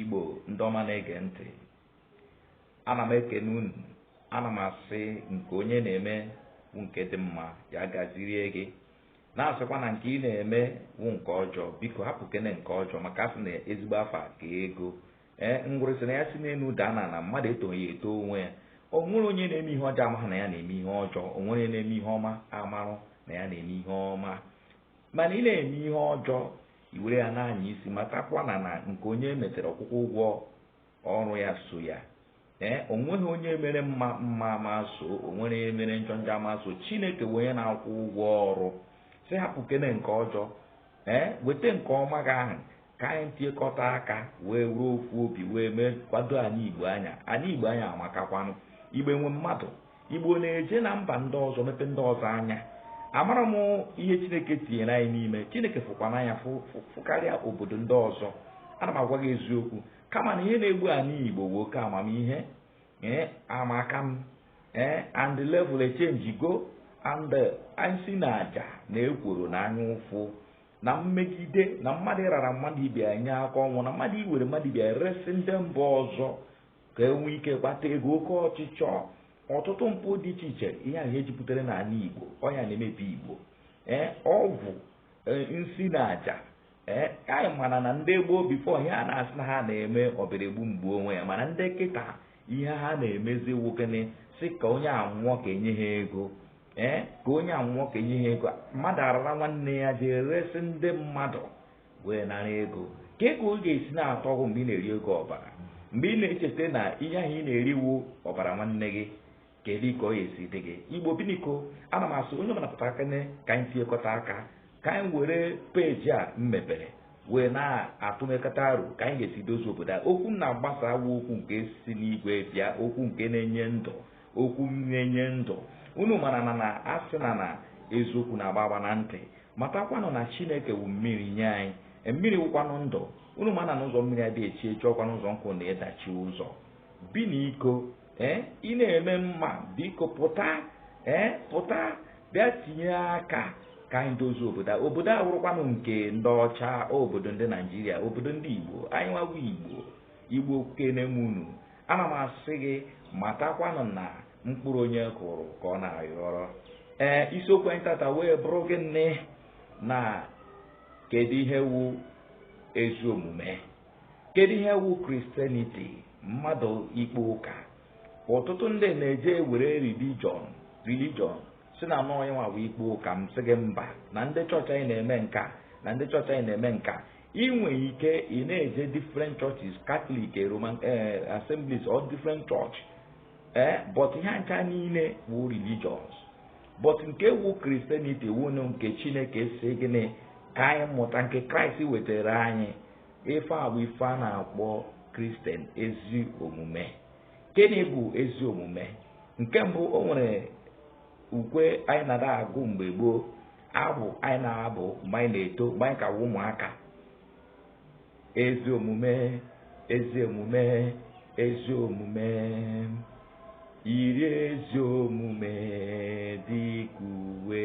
Igbo ndị ọma na-ege ntị ana m ekene unu ana m asị nke onye na-eme wụ nke dị mma ya gazirie gị na-asịkwa na nke ị na-eme wụ nke ọjọọ biko hapụkene nke ọjọọ maka a sị na ezigbo afa ka ego ee ngwere sị na ya si n'enu daa ana na mmadụ etoghị ya etoo onwe ya o nwere onye na-eme ihe ọjọọ amaghị na ya na-eme ihe ọjọọ o nwere na-eme ihe ọma amarọ na ya na-eme ihe ọma mana ị na-eme ihe ọjọọ i were ya na-anya isi matakwa na na nke onye metere ọkwụkwụ ụgwọ ọrụ ya so ya ee o nweghị onye mere mma mma ama so o nwere onye mere njọ njọ ama so chineke wụ onye na-akwụ ụgwọ ọrụ sị hapụkene nke ọjọọ ee weta nke ọma gị ahụ ka anyị tiekọta aka wee were ofu obi wee mee kwado anyị igbo anyị a anyị igbo anyị a amakakwanụ igbo nwe mmadụ igbo na-eje na mba ndị ọzọ mepe ndị ọzọ anya amara m ihe chineke tinyere anyị n'ime chineke fụkwa n'anya fụkarịa obodo ndị ọzọ ana m agwa gị eziokwu kama na ihe na-egbu anyị igbo bụ oke amamihe ee amaka m ee and level echenjigo and nsi na aja na ekworo na anya ụfụ na mmegide na mmadụ ịrara mmadụ ibe ya nye aka ọnwụ na mmadụ iwere mmadụ ibe ya resị ndị mba ọzọ ka e nwee ike gbata ego oke ọchịchọ ọtụtụ mpụ dị iche iche ihe ahụ jupụtara n'ana Igbo ọ ya na-emebi Igbo ee ọgwụ e, nsi na aja ee anyị mana na ndị gboo before ihe a na-asị na ha na-eme ọbịara egbu m gbuo onwe ya mana ndị kịta ihe ha na-emezi wụ gịnị sị ka onye a nwụọ ka e nye ha ego ee ka onye a nwụọ ka e nye ha ego mmadụ arara nwanne ya jee resị ndị mmadụ wee nara ego kee ka ọ ga-esi na-atọ gị mgbe ị na-eri ego ọbara mgbe ị na-echeta na ihe ahụ ị na-eri wụ ọbara nwanne gị Kedu ka ọ ga-esi dị gị? Igbo biniko, ana m asị onye ọbụla pụtakene ka anyị tinyekọta aka ka anyị were peji a m mepere wee na-atụnyekọta aro ka anyị ga-esi dozie obodo a okwu m na-agbasa a wụ okwu nke si n'igwe bịa okwu nke na-enye ndụ okwu na-enye ndụ unu mara na a na-asị na na eziokwu na-agba agba na ntị matakwanụ na chineke wu mmiri nye anyị e, mmiri wụkwanụ ndụ unu mana na ụzọ mmiri adịghị echi echi ọkwanụ ụzọ nkụ na-adachi ụzọ biniko ee ị na-eme mma biko pụta ee pụta bịa tinye aka ka anyị dozie obodo a obodo a awụrọkwanụ nke ndị ọcha obodo ndị naijiria obodo ndị igbo anyị nwawa igbo igbo ekene m unu ana m asị gị matakwanụ na mkpụrụ onye kụrụ ka ọ na-ayọrọ ee isiokwu anyị tata wee bụrụ gịnị na kedu ihe wụ ezi omume kedu ihe wu Christianity mmadụ ikpe ụka ọtụtụ ndị na-eje ewere religion religion si na anọ onye nwa bụ ikpe ụka m sị gị mba na ndị chọọchị anyị na-eme nka na ndị chọọchị anyị na-eme nka ị nwere ike ị na-eje different churches Catholic eh, Roman eh, assemblies or different church ee eh, but ihe ncha niile wụ religions but nke wu Christianity wụnụ nke chineke si gịnị ka anyị mụta nke kraịst wetara anyị ife a bụ ife a na-akpọ Christian ezi omume gịnị bụ ezi omume nke mbụ o nwere ukwe anyị na-agụ mgbe gboo abụ anyị na-abụ mgbe anyị na-eto mgbe anyị ka wụ ụmụaka ezi omume ezi omume ezi omume yiri ezi omume dị ka uwe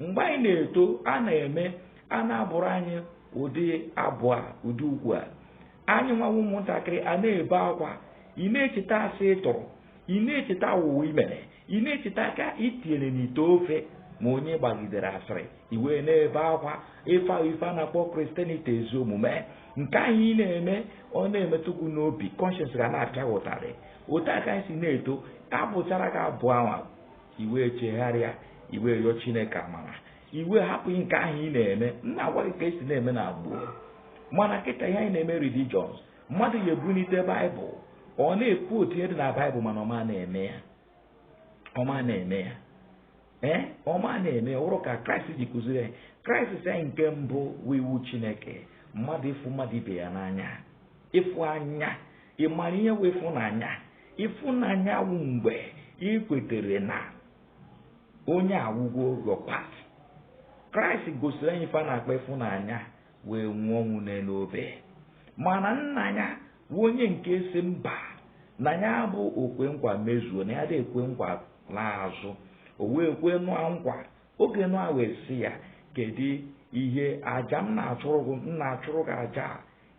mgbe anyị na-eto a na-eme a na-abụrụ anyị ụdị abụ a ụdị ukwe a anyịnwa wụ ụmụntakịrị a na-ebe akwa ị na-echeta asị ị tụrụ ị na-echeta awụwọ i mere ị na-echeta aka i tinyere n'ite ofe ma onye ị gbagidere asịrị i wee na-ebe akwa ife ahụ ife a na-akpọ Christianity ezi omume nke ahụ ị na-eme ọ na-emetụ gị n'obi conscience gị a na-apịa ụtarị otu a ka anyị si na-eto a bụchara gị abụ ahụ i wee chegharịa i wee yọọ chineke amara i wee hapụ nke ahụ ị na-eme m na-agwa gị ka e si na-eme na gboo mana kịta ihe anyị na-eme religions mmadụ ya-ebunite baịbụl ọ na-ekwu otu ihe dị na baịbụl mana ọ ma na-eme ya ọ ma na-eme ya ee ọ ma na-eme ya ụrụ ka kraịst ji kụziri anyị kraịst si anyị nke mbụ wụ iwu chineke mmadụ ịfụ mmadụ ibe ya n'anya ịfụnanya ị mara ihe wụ ịfụnanya Ifunanya wụ mgbe ị kwetere na onye a wụgo your part. Kraịst gosiri anyị ife a na-akpọ ịfụnanya wee nwụọ ọnwụ n'elu obe mana nna ya wụ onye nke si mba na ya bụ okwe nkwa mezuo na ya adị ekwe nkwa laa azụ o wee kwe Noah nkwa oge Noah wee sị ya kedu ihe aja m na-achụrụ gị m na-achụrụ gị aja a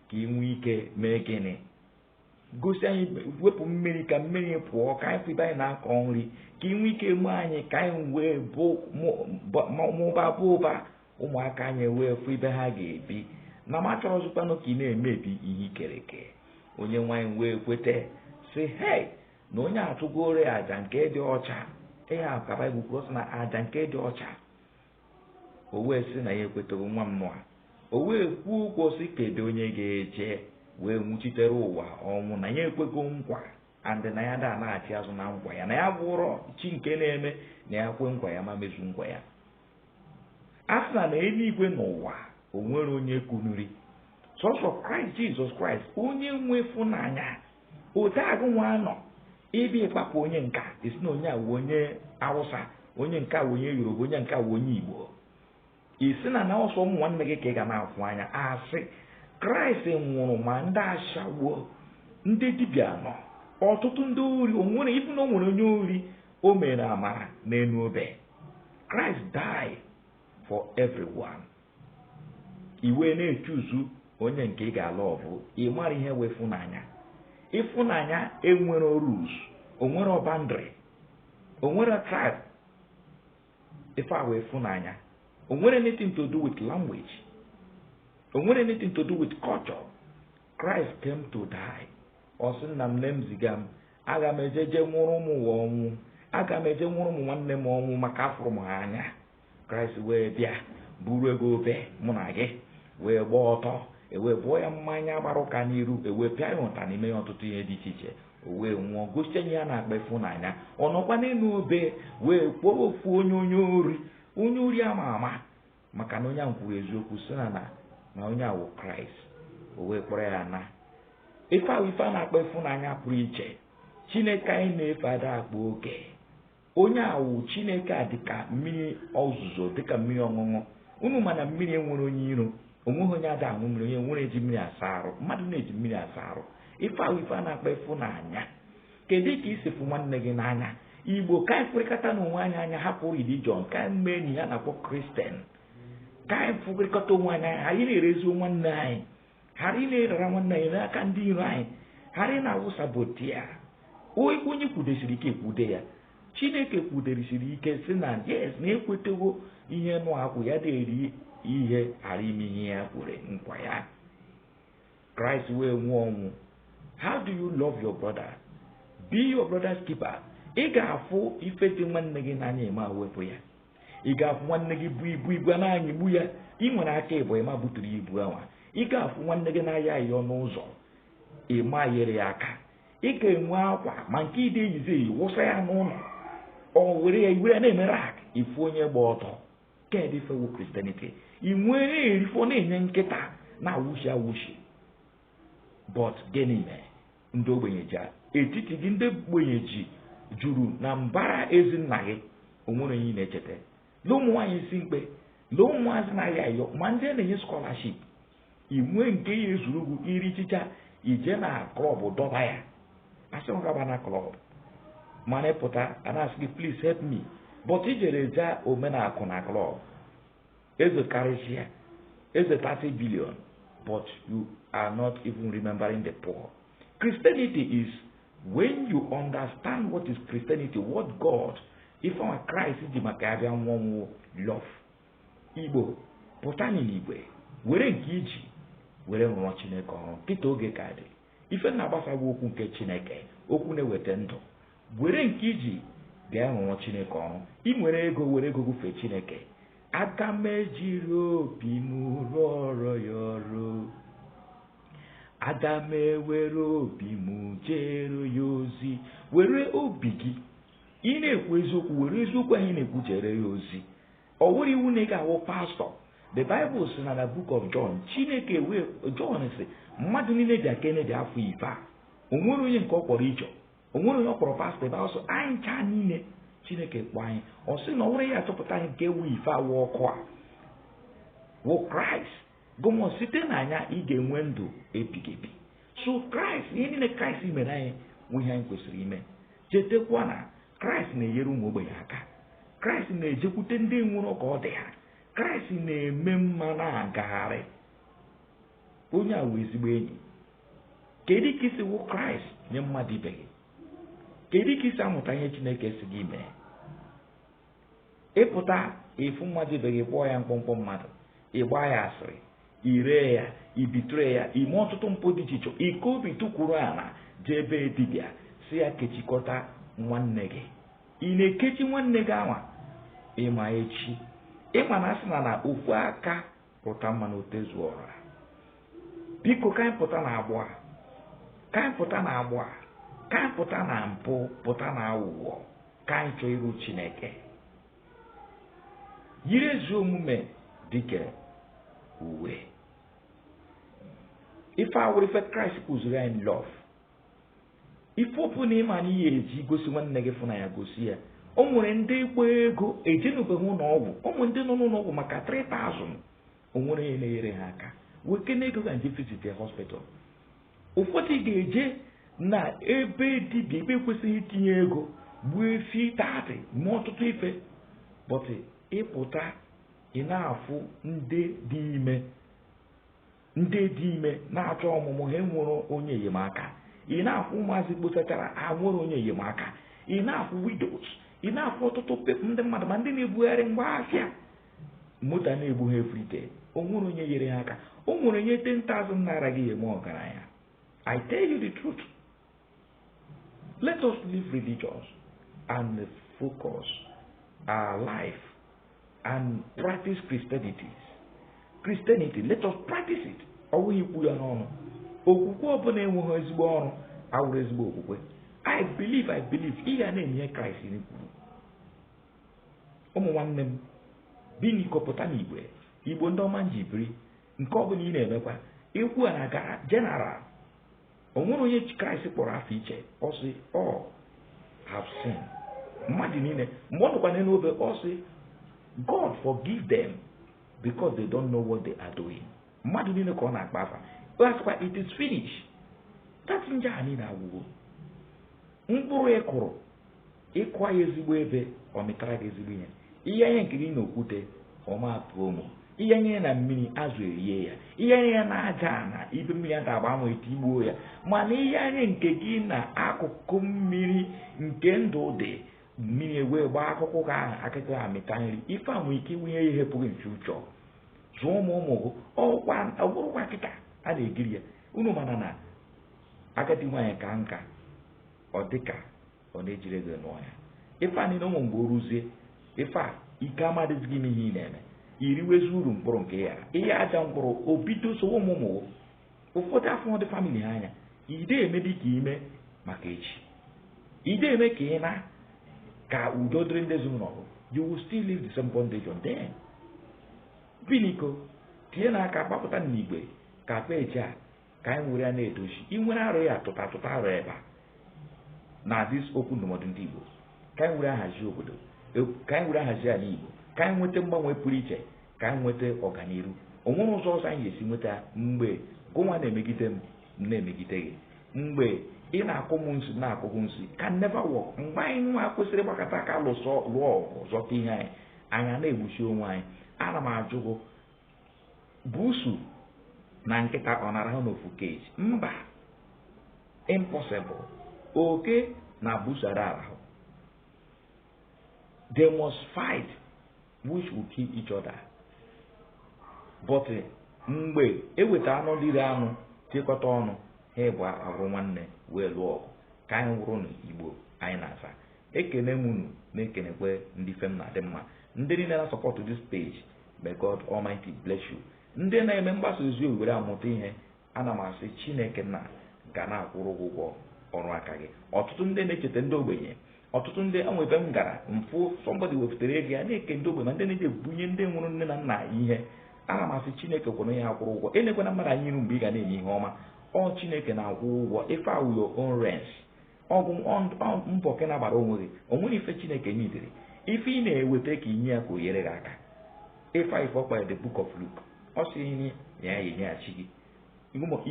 ka ị nwee ike mee gịnị gosi anyị wepụ mmiri ka mmiri pụọ ka anyị fụ ibe anyị na-akọ nri ka ị nwee ike mee anyị ka anyị wee mụba baa ụba ụmụaka anyị wee fụ ibe ha ga-ebi na m achọrọzikwanụ ka ị na-emebi ihe i kere eke onyenwe anyị wee kweta si hei na onye a chụgoro aja nke dị ọcha ihe a ka Baịbụl kwuru sị na aja nke dị ọcha o wee sị na ya ekwetago nwa mmụọ a o wee kwuo okwu ọ sị kedu onye ga-eje wee nwụchitere ụwa ọnwụ na ya ekwego nkwa and na ya ada anachi azụ na nkwa ya na ya abụrọ chi nke na-eme na ya kwe nkwa ya ama emezu nkwa ya a sị na na enuigwe na ụwa o nwerọ onye kunuri sọsọ kraịst jizọs kraịst onye nwe ịfụnanya otu agụ nwa nọ ebe ị kpapụ onye nke a ị sị na onye a wụ onye awụsa onye nke a wụ onye yoruba onye nke a wụ onye igbo ị sị na na ọ sọ ụmụ nwanne gị ka ị ga na-afụ n'anya a sị kraịst nwụrụ ma ndị ashawo ndị dibịa na ọtụtụ ndị ori o nwere even o nwere onye ori o mere amara n'enu obe kraịst died for everyone ị wee na-echoose onye nke ị ga-alove ị mara ihe wụ ịfụnanya ịfụnanya enwerọ rules o nwerọ boundary o nwerọ tribe ife a wụ ịfụnanya o nwerọ anything to do with language o nwerọ anything to do with culture Christ came to die ọ sị nna m nne m ziga m aga m eje je nwụrụ ụmụ ụwa ọnwụ aga m eje nwụrụ ụmụ nwanne m ọnwụ maka afụrụ m ha anya kraịst wee bịa burugo obe mụ na gị wee gbaa ọtọ e wee bụọ ya mmanya gbara ụka n'iru e wee pịa ya ụtarị mee ya ọtụtụ ihe dị iche iche o wee nwụọ gosi anyị ihe a na-akpọ ịfụnanya ọ nọkwa n'enu obe wee kpọọ ofu onye onye ori onye ori ama ama maka na onye ahụ kwuru eziokwu sị na na na onye a wụ kraịst o wee kpọrọ ya naa ife a wụ ife a na-akpọ ịfụnanya pụrụ iche chineke anyị na-efe ada akpa oke onye a wụ chineke a dịka mmiri ozuzo dịka mmiri ọṅụṅụ unu ma na mmiri enwerọ onye iro onweghị onye ada aṅụ mmiri onye nwere eji mmiri asa arụ mmadụ na-eji mmiri asa arụ ife a wụ ife a na-akpọ ịfụnanya kedu ka i si fụ nwanne gị n'anya igbo ka anyị fụrịkọtanụ onwe anyị anya hapụ religion ka anyị mee ihe a na-akpọ kristian ka anyị fụrịkọta onwe anyị anya anyị na-erezi nwanne anyị ghara ị na-arara nwanne anyị n'aka ndị iro anyị ghara ị na-awụ saboteur onye kwudesiri ike kwude ya chineke kwuderisiri ike sị na yes na ekwetago ihe nụ akwụ ya ada eri ihe ghara ime ihe ya kwere nkwa ya kraịst wee nwụọ ọnwụ how do you love your brother be your brother's keeper ị ga-afụ ife dị nwanne gị n'anya ị ma wepụ ya ị ga-afụ nwanne gị bu ibu ibu a na-anyịgbu ya ị nwere aka ịbụọ ị ma buturu ya ibu ahụ ị ga-afụ nwanne gị na-ayọ ayịyọ n'ụzọ ị ma yere ya aka ị ga-enwe akwa ma nke ị da eyizi eyi wụsa ya n'ụnọ ọ were ya ị were na-eme rag ị fụ onye gba ọtọ kedụ ife wụ kristianity ị nwere erifọ na-enye nkịta na-awụshi awụshi but gịnị mere ndị ogbenye ji etiti gị ndị ogbenye ji juru na mbara ezi nna gị onwere onye na-echeta lee ụmụ nwaanyị isi mkpe lee ụmụazị na-ayọ ayịyọ ma ndị a na-enye skọlaship inwe nke ya ezuru ugwu iri chicha ije na klọb dọba ya asị m gaba na klọb mana ịpụta a na-asị gị please help me but ijere zaa omenakụ na klọb Eze karịsịa, eze 30 billion, but you are not even remembering the poor. Christianity is when you understand what is Christianity, what God, ife our Christ ji maka ya bịa n'ụwa wụ love. Igbo, pụta n'igwe, were nke iji, were rụọ Chineke ọrụ, kịta oge ka dị. ife na-agbasa wụ okwu nke chineke okwu na-eweta ndụ were nke iji jee rụọrọ chineke ọrụ ị nwere ego were ego gị fee chineke aga m ejiri obi m rụọrọ ya ọrụ aga m ewere obi m jeere ya ozi were obi gị ị na-ekwu eziokwu were eziokwu ahụ ị na-ekwu jeere ya ozi ọ wụrọ iwu na ị ga-awụ pastọ the bible si na na book of john chineke wee john si mmadụ niile bịakene bịa fụ ife a onwere onye nke ọ kpọrọ tịcha onwere onye ọ kpọrọ pastọ ebe ọsọ anyị ncha niile chineke kpọ anyị ọ sị na ọ wụrụ ya chọpụta anyị nke ewu ife awụ ọkụ a wụ kraịst gụmọ site na ya ị ga-enwe ndụ ebighị ebi so kraịst ihe niile kraịst mere anyị nwe ihe anyị kwesịrị ime chetakwa na kraịst na-enyere ụmụ ogbenye aka kraịst na-ejekwute ndị nwerọ ka ọ dị ha kraịst na-eme mma na-agagharị onye a wụ ezigbo enyi kedu ka isi wụ kraịst nye mmadụ ibe gị kedu ka isi amụta ihe chineke si gị mee ịpụta ịfụ mmadụ ibe gị kpọọ ya mkpọmkpọ mmadụ ịgba ya asịrị iree ya ị betray ya ime ọtụtụ mpụ dị iche iche ike obi tụkwuru ala jee ebe dibịa si ya kechikọta nwanne gị ị na-ekechi nwanne gị anwa ịma echi ịma na asị na na ofu aka ruta mmanụ o tezuo ọra biko ka anyị pụta na agbụ a ka anyị pụta na agbụ a ka anyị pụta na mpụ pụta na aghụghọ ka anyị chọọ iru chineke yiri ezi omume dịka uwe ife a wụrụ ife kraịst kụziri anyị lọv ife ọbụla ịma na ị ya-eji gosi nwanne gị ịfụnanya gosi ya o nwere ndị mkpa ego ejenwubeghị ụlọ ọgwụ o nwere ndị nọ n'ụlọ ọgwụ maka 3000 o nwerọ onye na-enyere ha aka wekene ego gị jee visit the hospital ụfọdụ ga-eje na ebe dibịa ebe ekwesịghị itinye ego gbuo efi tatị mee ọtụtụ ife bọtị ịpụta ị na-afụ ndị dị ime ndị dị ime na-achọ ọmụmụ ha enwere onye enyemaka ị na-ekwu ụmụazị kposachara ha nwere onye enyemaka ị na-ekwu widows ị na-ekwu ọtụtụ ndị mmadụ ma ndị na-ebugharị ngwa ahịa moto na-egbu ha everyday o nwere onye nyere ha aka o nwere onye 10,000 naira ga-eme ọgaranya I tell you the truth Let us leave religions and focus our life and practice Christianity. Christianity, let us practice it. Ọ bụghị ikwu ya n'ọnụ. Okwukwe ọbụla enweghị ezigbo ọrụ awụrụ ezigbo okwukwe. I believe, I believe. Ị ga na-eme ihe Kraịst kwuru. Ụmụ nwanne m, biniko pụta n'igwe, igbo ndị ọma m ji biri, nke ọbụla ị na-emekwa, okwu a na-agara general o nwere onye kraịst kpọrọ afa iche ọ sị all have sin mmadụ niile mgbe ọ nọkwa n'elu obe ọ sị god forgive them because they don't know what they are doing mmadụ niile ka ọ na-akpọ afa asịkwa it is finish that njọ a niile agwụgo mkpụrụ ị kụrụ ị kụọ ya ezigbo ebe ọ mịtara gị ezigbo ihe ị yanye nke gị na okwute ọ ma pu ome ị yanye na mmiri azụ erie ya ị yanye ya na aja na ebe mmiri ada agba anwụ etigbuo ya mana ị yanye nke gị na akụkụ mmiri nke ndụ dị mmiri ewee gbaa akụkụ gị ahụ akụkụ ha mịta nri ife a nwere ike inwunye ihe pụghị nche ụchọ zụọ ụmụ ụmụ gụ ọ bụrụkwa kịta a na-ekiri ya unu mana na agadi nwaanyị kaa nka ọ dịka ọ na ejirọ ego nụọ ya ife a niile ụmụ mgbe o ruzie ife a ike amadịzi gị ime ihe ị na-eme i riwezie uru mkpụrụ nke ị yara ị ya ajọ mkpụrụ o bido sowe ụmụ ụmụ ụfọdụ afụ ndị family ha anya i de eme dị ka ime maka echi i de eme ka ị na ka udo dịrị ndị ezinụlọ you will still leave the same bondage on them biniko tinyenụ aka gbapụta n'igwe ka peji a ka anyị were ya na-edozi i were arụ ya tụta tụta arụ ebe a na this okwu ndụmọdụ ndị Igbo ka anyị were ahazi obodo ka anyị were ahazi ala Igbo ka anyị nweta mgbanwe pụrụ iche ka anyị nweta ọganihu o nwere ụzọ ọzọ anyị ga-esi nweta mgbe gụnwa na-emegide m m na-emegide gị mgbe ị na-akụ m nsi na-akụ gị nsi can never work mgbe anyị nwa kwesịrị gbakọta aka lụsọ lụọ ọgụ zọta ihe anyị anyị na-egbusi onwe anyị ana m ajụ gụ Busu na nkịta ọ na-arahụ n'ofu cage mba impossible oke na busu ada arahụ they must fight which will kill each other but eh, mgbe e weta anụ dịrị anụ chịkọta ọnụ ha abụọ awụrụ nwanne wee lụọ ọgụ ka anyị wụrụnụ Igbo anyị na-aza ekene m unu na-ekenekwe ndị ife m na-adị mma ndị niile na-asupport this page may God Almighty bless you ndị na-eme mgbasa ozi were amụta ihe ana m asị Chineke nna ga na-akwụrụ gị ụgwọ ọrụ aka gị ọtụtụ ndị na-echeta ndị ogbenye ọtụtụ ndị e nwere ebe m gara m fụ somebody wepụtara ego ya na-eke ndị ogbenye ma ndị na-eje ebunye ndị nwụrụ nne na nna ihe ana m asị Chineke kwụrụ ya akwụrụ ụgwọ elekwana mmadụ anya n'iru mgbe ị ga na-eme ihe ọma ọ Chineke na-akwụ ụgwọ ife a wụ your own race ọ bụ mbọ ka ị na-agbara onwe gị o nwere ife Chineke ji dere ife ị na-eweta ka i nye ya ka o nyere gị aka ịfa ife ọkpa the book of Luke ọ sị i nye ya ya enyeghachi gị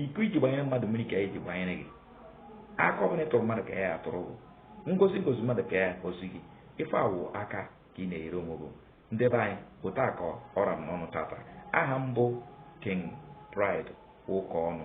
iko i ji gbanyere mmadụ mmiri ka a ya-eji gbanyere gị aka ọbụla ị tụrụ mmadụ ka a ya-atụrụ gị ngozi ị gọzi mmadụ ka a ya-agọzi gị ife a wụ aka ka ị na-enyere onwe gị nde be anyị otu a ka ọ ra m n'ọnụ tata aha m bụ King Pride Ukaonu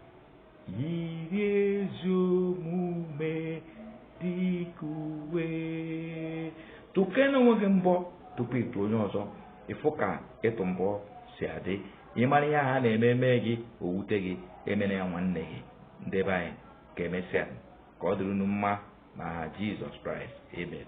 yiri ezi omume dị ka uwe tụkene onwe gị mbọ tupu ị tụ onye ọzọ ị fụ ka ịtụ mbọ si adị ị mara ihe ha na-eme eme gị o wute gị emere ya nwanne gị ndị be anyị ka emesịa ka ọ dịrị unu mma na aha Jesus Christ amen